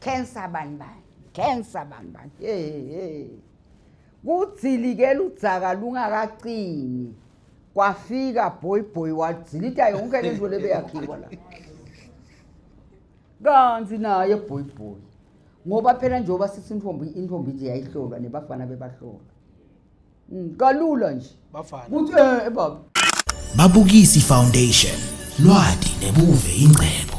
Cancer bani bani. Cancer bani bani. Hey hey. Kudzilikela udzaka lungakacini. Kwafika boy boy wadzilita yonke lento lebeyakhiwa la. Kanzi naye boy boy. Ngoba phela njengoba sithi intombi intombi nje yayihlolwa nebafana bebahlolwa. Mm, kalula nje. Bafana. Ukuthi eh, eh baba. Babukisi Foundation. Lwadi nebuve ingcebo.